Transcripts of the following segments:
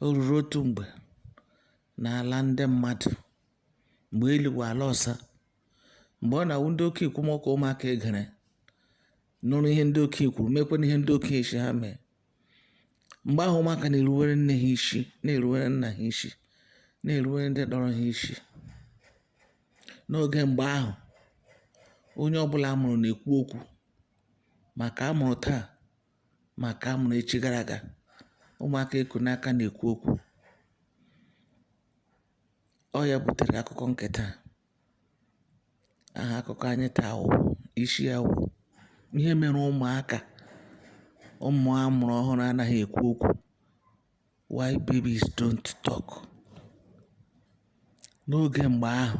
O ruru otu mgbe n'ala ndị mmadụ, mgbe elu wụ ala ọsa, mgbe ọ na-awụ ndị okenye kwuma okwu ụmụaka egere nụrụ ihe ndị okenye kwuru mekwana ihe ndị okenye sị ha mee mgbe ahụ ụmụaka na-eruwere nne ha isi na-eruwere nna ha isi na-eruwere ndị tọrọ ha isi n'oge mgbe ahụ onye ọbụla a mụrụ na-ekwu okwu ma nke a mụrụ taa ma nke a mụrụ echi gara aga ụmụaka e ku n'aka na-ekwu okwu ọ ya butere akụkọ nke taa aha akụkọ anyị taa wụ isi ya wụ ihe mere ụmụaka ụmụ a mụrụ ọhụrụ anaghị ekwu okwu why babies don't talk n'oge mgbe ahụ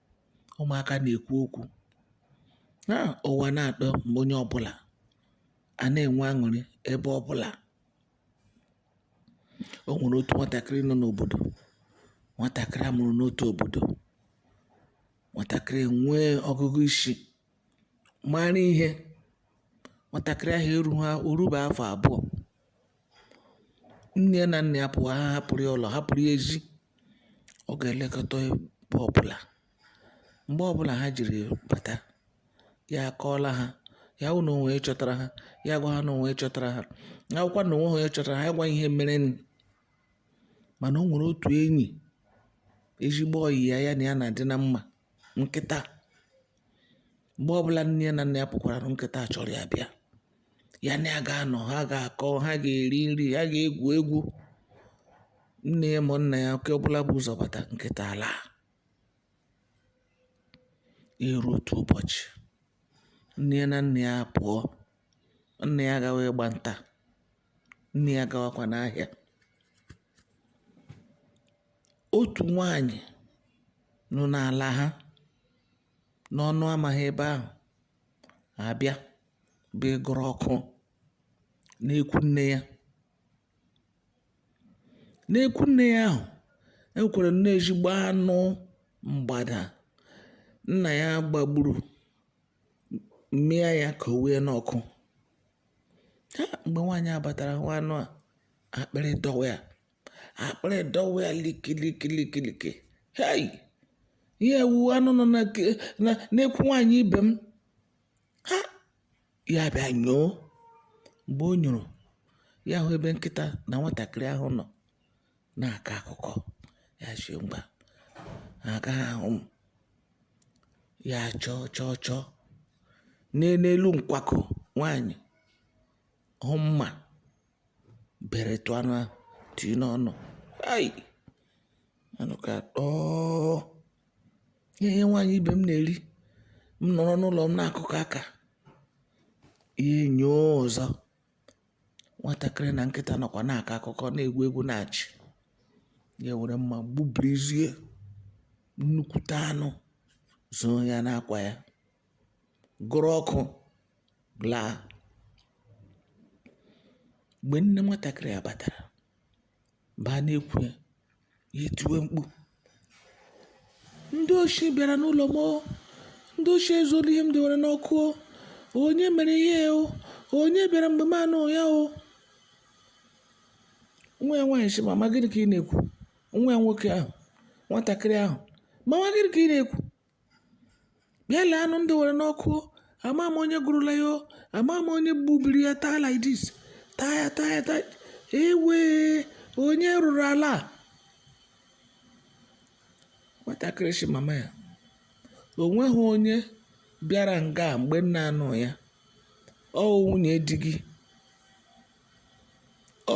ụmụaka na-ekwu okwu na ụwa na-atọgbu onye ọbụla a na-enwe aṅụrị ebe ọbụla o nwere otu nwatakịrị nọ n'obodo nwatakịrị a mụrụ n'otu obodo nwatakịrị enwee ọgụgụ isi mara ihe nwatakịrị ahụ erughị o rube afọ abụọ Nne ya na nna ya pụọ, ha ahapụrụ ya ụlọ, hapụrụ ya ezi. Ọ ga-elekọta ya mgbe ọbụla. Mgbe ọbụla ha jiri bata, ya akọọla ha. Ya wụrụ na o nwere onye chọtara ha, ya agwa ha na o nwere onye chọtara ha. Ya wụrụkwa na o nweghị onye chọtara ha, ya gwa ha ihe merenụ. Mana o nwere otu enyi, ezigbo ọyị ya, ya na ya na-adị na mma, nkịta. Mgbe ọbụla nne ya na nna ya pụkwara, nkịta achọrọ ya bịa. ya na ya ga-anọ ha ga-akọ ha ga-eri nri ha ga-egwu egwu nne ya ma nna ya nke ọbụla bu ụzọ bata nkịta alaa ya eru otu ụbọchị nne ya na nna ya pụọ nna ya gawa ịgba nta nne ya gawakwa n'ahịa otu nwanyị nọ n'ala ha n'ọnụ ama ha ebe ahụ abịaba ịgụrụ ọkụ n'ekwu nne ya n'ekwu nne ya ahụ e nwekwaranụ ezigbo anụ mgbada nna ya gbagburu mịa ya kowe ya n'ọkụ ha mgbe nwaanyị a batara hụ anụ a akpịrị dọwa ya akpịrị dọwa ya likilikilikilikili hei ihe a wụ anụ nọ na ke- na- n'ekwu nwaanyị ibe m a ya bịa nyoo mgbe o nyoro ya hụ ebe nkịta na nwatakịrị ahụ nọ na-akọ akụkọ ya sị mba ha agaghị ahụ m ya chọọ chọọ chọọ n'elu nkwakọ nwaanyị hụ mma beretụ anụ ahụ tinye n'ọnụ hai anụ ka tọọ ihe ihe nwaanyị ibe m na-eri m nọrọ n'ụlọ m na-akụkọ aka ya enyoo ọzọ nwatakịrị na nkịta nọkwa na-akọ akụkọ na-egwu egwu na-achị ya were mma gbubrizie nnukwute anụ zoo ya n'akwa ya gụrụ ọkụ laa mgbe nne nwatakịrị a batara baa n'ekwu ya ya etiwe mkpu ndị oshi bịara n'ụlọ m o. ndị oshi ezuola ihe m dewere n'ọkụ o. onye mere ihe o onye bịara mgbe m anọghị ya o nwa ya nwaanyị sị mama gịnị ka ị na-ekwu nwa ya nwoke ahụ nwatakịrị ahụ mama gịnị ka ị na-ekwu bịa lee anụ m dewere n'ọkụ amaghị m onye gụrụla ya o, amaghị m onye gbubiri ya taa like this taa ya taa ya taa ya. ewo onye rụrụ ala a? nwatakịrị sị mama ya o nweghị onye bịara nga a mgbe ị na-anọghị ya ọ nwunye di gị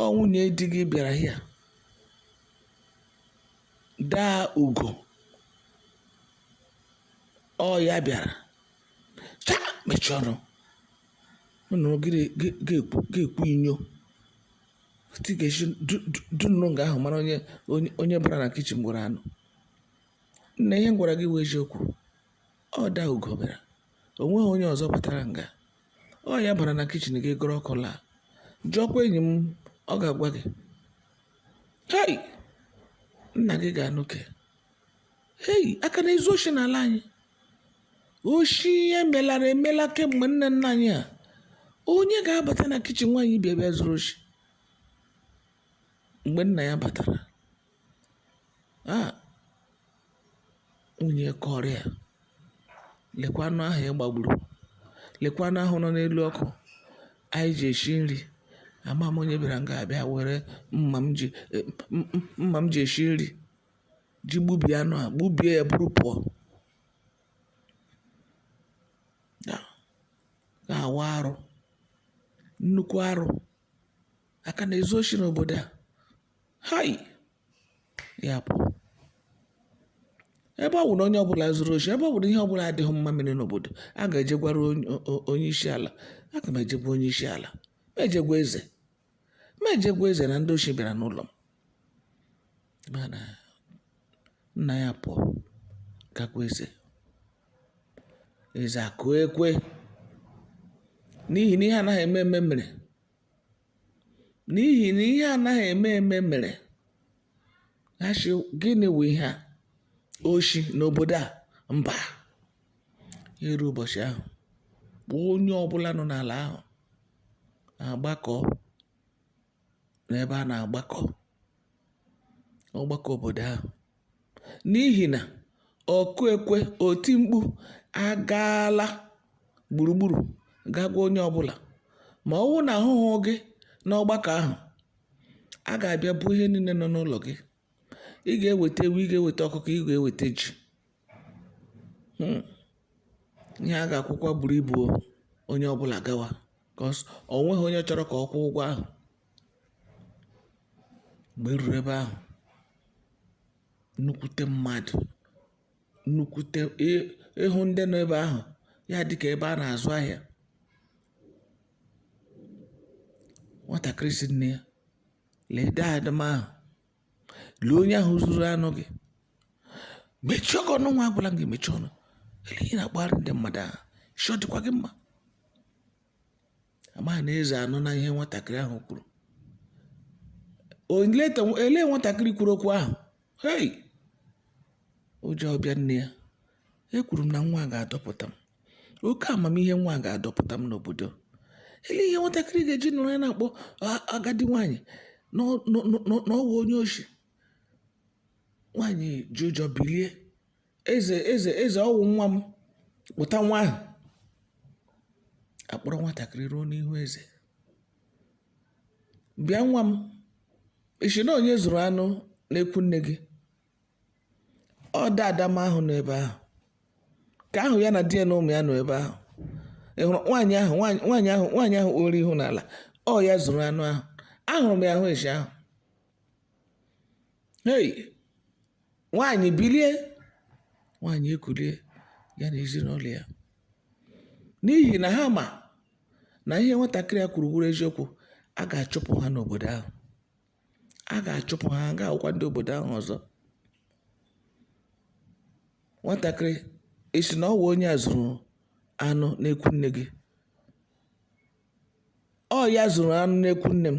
ọ nwunye di gị bịara ya daa ugo ọ ya bịara cha mechie ọnụ ọ nọrọ gị gị- ga-ekwu ga-ekwu inyo ti ga-esi du- du- du nọrọ nga ahụ mara onye onye onye bara na kichin gburu anụ nna ihe m gwara gị wụ eziokwu ọ daa ugo bịara o nweghị onye ọzọ batara nga ọ ya bara na kichin gị gụrụ ọkụ laa jụọkwa enyi m ọ ga-agwa gị hei nna gị ga-anụ nke a hei a ka na-ezu oshi n'ala anyị oshi ihe melara emela kemgbe nna nna anyị ha onye ga-abata na kichin nwaanyị bịa bịa zuru oshi mgbe nna ya batara Ah! Nwunye kọọrọ ya, lekwa anụ ahụ ị gbagburu, lekwa anụ ahụ nọ n'elu ọkụ anyị ji esi nri. Amaghị m onye bịara nga bịa were mma m ji, mma m ji esi nri ji gbubie anụ a, gbubie ya buru pụọ. Ah! Nke a wụ arụ, nnukwu arụ. A ka na-ezu oshi n'obodo a. Hai! Ya bụ, ebe ọ bụ na onye ọbụla zuru oshi, ebe ọ bụ na ihe ọbụla adịghị mma mere n'obodo, a ga-eje gwara onye- o- o- onye isi ala. Aga m eje gwa onye isi ala. M eje gwa eze. M eje gwa eze na ndị oshi bịara n'ụlọ m. Mana nna ya apụọ ga gwa eze. Eze akụọ ekwe n'ihi na ihe anaghị eme eme mere. N'ihi na ihe anaghị eme eme mere ha sị gịnị wụ ihe a oshi n'obodo a mba ya eru ụbọchị ahụ onye ọbụla nọ n'ala ahụ agbakọ n'ebe a na-agbakọ ọgbakọ obodo ahụ n'ihi na ọkụ ekwe oti mkpu agaala gburugburu ga gwa onye ọbụla ma ọ wụ na a hụhụ gị n'ọgbakọ ahụ a ga-abịa buru ihe niile nọ n'ụlọ gị ị ga-eweta ewu ị ga-eweta ọkụkọ ị ga-eweta ji Hmm. ihe a ga-akwụkwa buru ibu onye ọbụla gawa 'cause o nweghị onye chọrọ ka ọ kwụọ ụgwọ ahụ Mgbe e ruru ebe ahụ, nnukwute mmadụ, nnukwute ị hụ ndị nọ ebe ahụ, ya dị ka ebe a na-azụ ahịa. Nwatakịrị sị nne ya, "Lee dada m ahụ, lee onye ahụ zuru anụ gị. Mechie ọnụ nwa a, agwala m gị mechie ọnụ. Olee ihe ị na-akpagharị ndị mmadụ aha? Isi ọ dịkwa gị mma?" Amaghị na eze anụna ihe nwatakịrị ahụ kwuru. Olee nwatakịrị kwuru okwu ahụ? Hei! Ụjọ abịa nne ya. Ekwuru m na nwa a ga-adọpụta m. Oke amamihe nwa a ga-adọpụta m n'obodo. Ele ihe nwatakịrị ga-eji nọrọ ya na-akpọ agadi nwaanyị na ọ wụ onye oshi. Nwaanyị ji ụjọ bilie. Eze, eze, eze, ọ wụ nwa m. Kpọta nwa ahụ. A kpọrọ nwatakịrị ruo n'ihu eze. Bịa nwa m. Ị sị na onye zuru anụ n'ekwu nne gị. Ọ dada m ahụ nọ ebe ahụ. Nke ahụ ya na di ya na ụmụ ya nọ ebe ahụ. Ị hụrụ nwaanyị ahụ nwaanyị nwaanyị ahụ nwaanyị ahụ kpọrọ ihu n'ala. Ọ ya zuru anụ ahụ. Ahụrụ m ya ahụ esi ahụ. Hei! Nwaanyị bilie, nwaanyị ekulie ya na ezinụlọ ya. N'ihi na ha ma na ihe nwatakịrị a kwuru wụrụ eziokwu, a ga-achụpụ ha n'obodo ahụ. A ga-achụpụ ha, ha agaghị awụkwa ndị obodo ahụ ọzọ. Nwatakịrị, ị sị na ọ wụ onye a zuru anụ n'ekwu nne gị? Ọ ya zuru anụ n'ekwu nne m.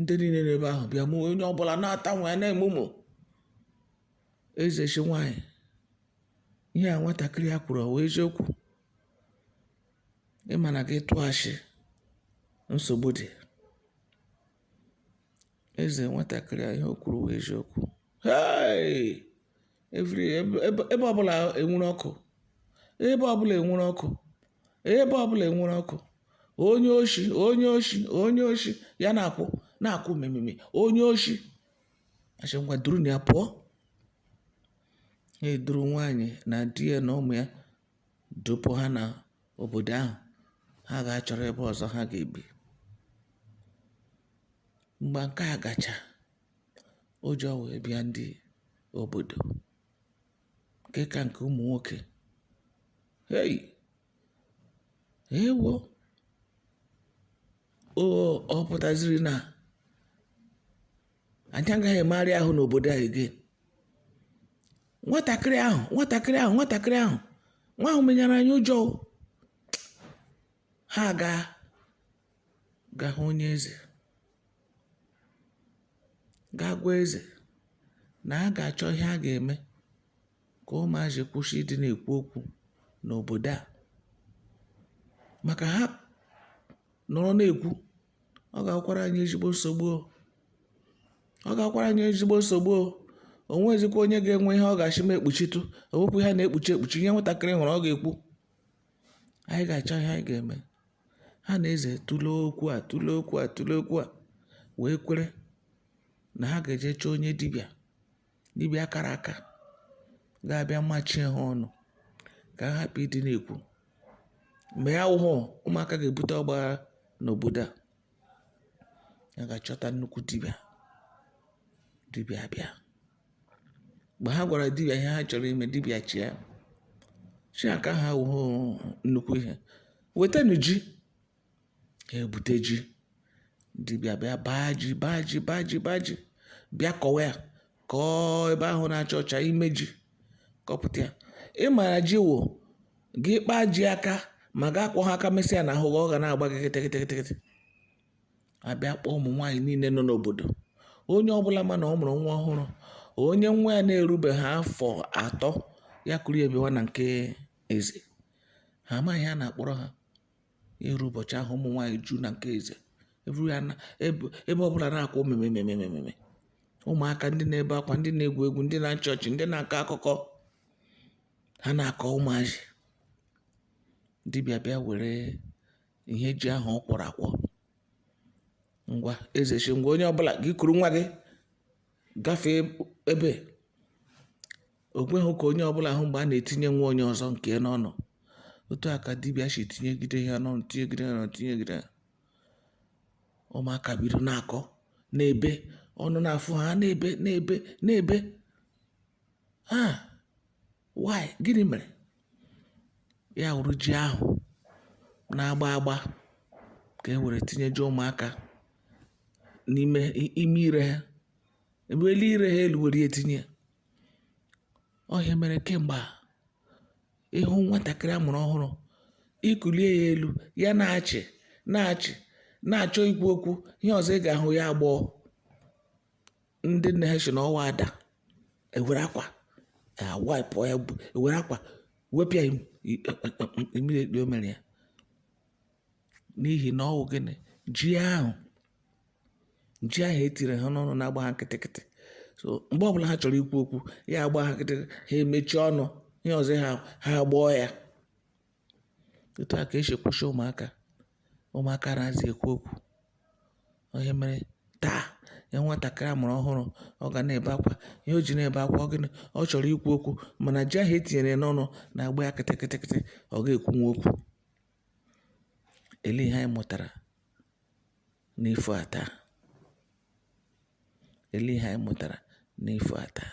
ndị niile n'ebe ahụ bịa mụ onye ọbụla na-ata nwa ya na-emụmụ eze sị nwaanyị ihe a nwatakịrị a kwuru ọ wụ eziokwu ị ma na gị tụọ ashị nsogbu dị eze nwatakịrị a ihe o kwuru wụ eziokwu Hey! Every- ebe ebe- ebe ọbụla enwere ọkụ ebe ọbụla enwere ọkụ ebe ọbụla enwere ọkụ onye oshi onye oshi onye oshi ya na-akwụ na-akwụ mememe onye oshi a sị ngwa durunụ ya pụọ ha eduru nwaanyị na di ya na ụmụ ya dupụ ha na obodo ahụ ha ga-achọrọ ebe ọzọ ha ga-ebi mgbe nke a gacha ụjọ wee bịa ndị obodo nke ka nke ụmụ nwoke hei ewo ọ pụtaziri na anyị agaghị emegharị ahụ n'obodo a again nwatakịrị ahụ nwatakịrị ahụ nwatakịrị ahụ nwa ahụ menyere anyị ụjọ ha gaa ga hụ onye eze gaa gwa eze na a ga-achọ ihe a ga-eme ka ụmụazị kwụsị ịdị na-ekwu okwu n'obodo a maka ha nọrọ na-ekwu ọ ga-awụkwara anyị ezigbo nsogbu o. ọ ga-awụkwara anyị ezigbo nsogbu o o nwezikwa onye ga-enwe ihe ọ ga-asị m ekpuchitụ ọ wụkwa ihe a na-ekpuchi ekpuchi ihe nwatakịrị hụrụ ọ ga-ekwu Anyị ga-achọ ihe anyị ga-eme. Ha na eze tụlee okwu a, tụlee okwu a, tụlee okwu a, wee kwere na ha ga-eje chọọ onye dibịa, dibịa kara aka ga-abịa machie ha ọnụ ka ha hapụ ịdị na-ekwu. Ma ya wụhụ, ụmụaka ga-ebute ọgbaghara n'obodo a. Ha gaa chọta nnukwu dibịa, dibịa abịa. mgbe ha gwara dibịa ihe ha chọrọ ime dibịa chịa ọchị kaa ha ọ wụhụ nnukwu ihe wetanụ ji ha ebute ji dibịa bịa baa ji baa ji baa ji baa ji bịa kọwa ya kọọ ebe ahụ na-acha ọcha ime ji kọpụta ya ị mara ji wụ gị kpaa ji aka ma gị akwọhụ aka mesịa na ahụ gị ọ ga na-agba gị kịtịkịtịkịtị a bịa kpọọ ụmụ nwaanyị niile nọ n'obodo onye ọbụla ma na ọ mụrụ nwa ọhụrụ onye nwa ya na-erubeghị afọ atọ ya kuru ya bịawa na nke eze ha amaghị ihe a na-akpọrọ ha eruo ụbọchị ahụ ụmụ nwaanyị eju na nke eze ebe ọbụla na-akwa memememememe ụmụaka ndị na-ebe akwa ndị na-egwu egwu ndị na-achị ọchị ndị na-akọ akụkọ ha na-akọ ụmụazị dibịa bịa were ihe ji ahụ ọ kwọrọ akwọ ngwa eze sị ngwa onye ọbụla gị kuru nwa gị gafee ebe o kweghị ka onye ọbụla hụ mgbe a na-etinye nwa onye ọzọ nke ya n'ọnụ otu a ka dibịa si tinyegide ya n'ọnụ tinyegide ya n'ọnụ tinyegide ya ụmụaka bido na-akọ na-ebe ọnụ na-afụ ha na-ebe na-ebe na-ebe ah why gịnị mere? Ya wụrụ ji ahụ na-agba agba ka e were tinyeje ụmụaka n'ime ime ire ha eweli ire ha elu were ya tinye ọ ihe mere kemgbe a ị hụ nwatakịrị a mụrụ ọhụrụ i kulie ya elu ya na-achị na-achị na-achọ ikwu okwu ihe ọzọ ị ga-ahụ ya agbọọ ndị nne ha si n'ọwa ada ewere akwa wipe ya ewere akwa wepụ ya mmiri ekpe o mere ya n'ihi na ọ wụ gịnị ji ahụ ji ahụ e tiri ha n'ọnụ na-agba ha kịtịkịtị so mgbe ọbụla ha chọrọ ikwu okwu ya agba ha kịtịkịtị ha emechie ọnụ ihe ọzọ ha ha agbọọ ya Otu a ka e si kwụsị ụmụaka, ụmụaka anaghịzi ekwu okwu, ọ ihe mere taa ị hụ nwatakịrị a mụrụ ọhụrụ ọ ga na-ebe akwa, ihe o ji na-ebe akwa ọ gịnị? Ọ chọrọ ikwu okwu mana ji ahụ e tinyere ya n'ọnụ na-agba ya kịtị kịtị kịtị, ọ gaghị ekwunwu okwu. Elee ihe anyị mụtara n'ifo a taa? Elee ihe anyị mụtara n'ifo a taa?